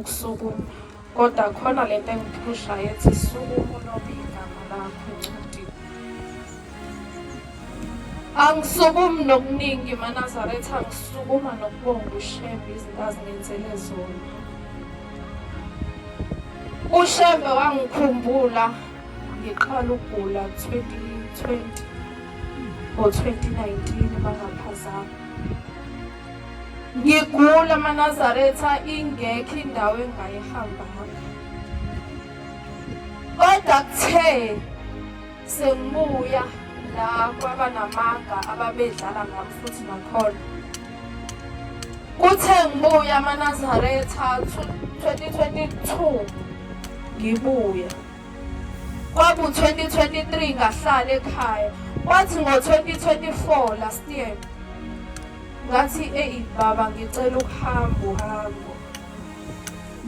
Ukusukuma kodwa khona le nto engiphushayo ethi sukuma ulobe igama lakho encwadini angisukumi nokuningi manazaretha angisukuma nokubonga ushembe izinto azingenzele zona ushembe wangikhumbula ngiqala ukugula 2020 or 2019 bangaphazama Ngigula manazaretha ingekho indawo engayihamba hamba. Kodwa kuthe sengibuya la kwabanamanga ababedlala ngami futhi nakhona. Kuthe ngibuya manazaretha 2022 ngibuya. Kwaku-2023 ngahlala ekhaya. Kwathi ngo-2024 last year ngathi eyi baba ngicela ukuhamba uhambo.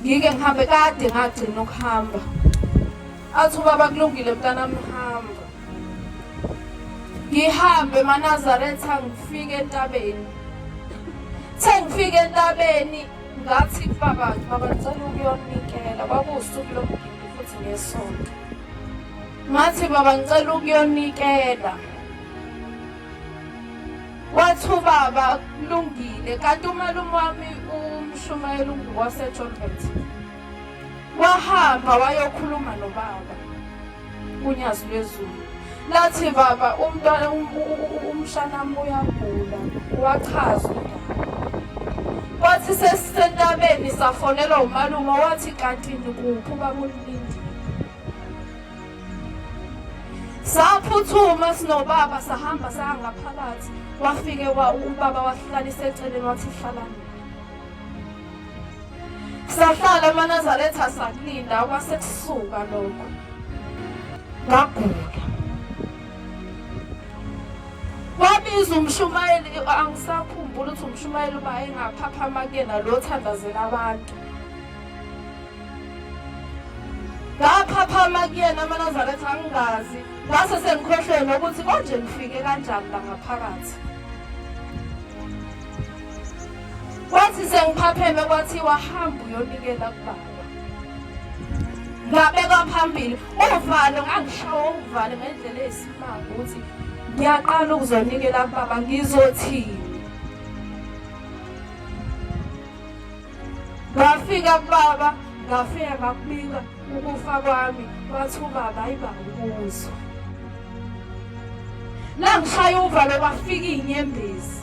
Ngike ngihambe kade ngagcina ukuhamba. Athi ubaba kulungile mntanami hamba. Ngihambe eManazaretha ngifike entabeni. Sengifike entabeni Ngathi baba baba ngicela ukuyonikela kwakuwusuku lomgidi futhi ngesonto. Ngathi baba ngicela ukuyonikela. Wathi ubaba kulungile kanti umalume wami umshumayeli unguwaseJolbert. Wahamba wayokhuluma nobaba. unyazi lwezulu lathi baba umntwana umshanami uyagula wachaza wathi sesisentabeni safonelwa umalume wathi kanti nikuphi ubabulilindi saphuthuma sinobaba sahamba sangaphakathi wafike ubaba wahlalisa eceleni wathi hlalani sahlala emanazaretha sakulinda kwase kusuka lokho ngagula wabiza umshumayeli angisakhumbula ukuthi umshumayeli uba engaphaphama kuyena lo othandazela abantu ngaphaphama kuyena amanazaretha angingazi ngase sengikhohlwe nokuthi konje ngifike kanjani la ngaphakathi Kwathi sengiphapheme kwathiwa hamba uyonikela kubaba. Ngabeka phambili uvalo ngangishawa uvalo ngendlela eyisimanga ukuthi ngiyaqala ukuzonikela kubaba ngizothini. Ngafika kubaba ngafika ngakubika ukufa kwami wathi ubaba ayiba ukuzwa. Langishaya uvalo kwafika inyembezi.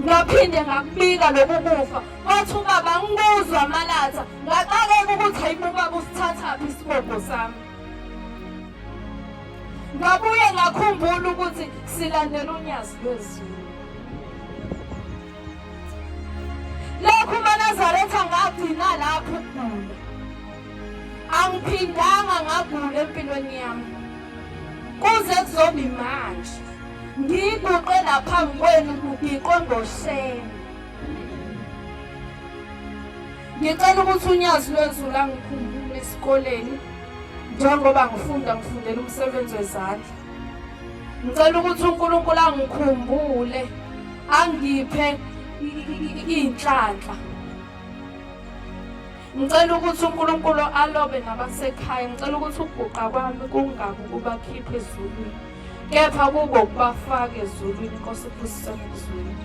ngaphinde ngakubika loku kufa kwathi ubaba ngikuzwa amalatha ngaxakeka ukuthi hayibo ubaba usithathaphi isibopho sami ngabuye ngakhumbula ukuthi silandela unyazi lwezulu lokhu umanazaretha ngagcina lapho ukugula angiphindanga ngagula empilweni yami kuze kuzoba imanje ngiyiguqe naphambi kwenu kugiqwe ngosheni ngicela ukuthi unyazi lwezulu angikhumbule esikoleni njengoba ngifunda ngifundela umsebenzi wezandla ngicela ukuthi unkulunkulu angikhumbule angiphe iy'nhlanhla Ngicela ukuthi uNkulunkulu alobe nabasekhaya. Ngicela ukuthi ukuguqa kwami kungabi ukubakhipha ezulwini, kepha kuko kubafaka ezulwini. Inkosi iphusisane ezulwini.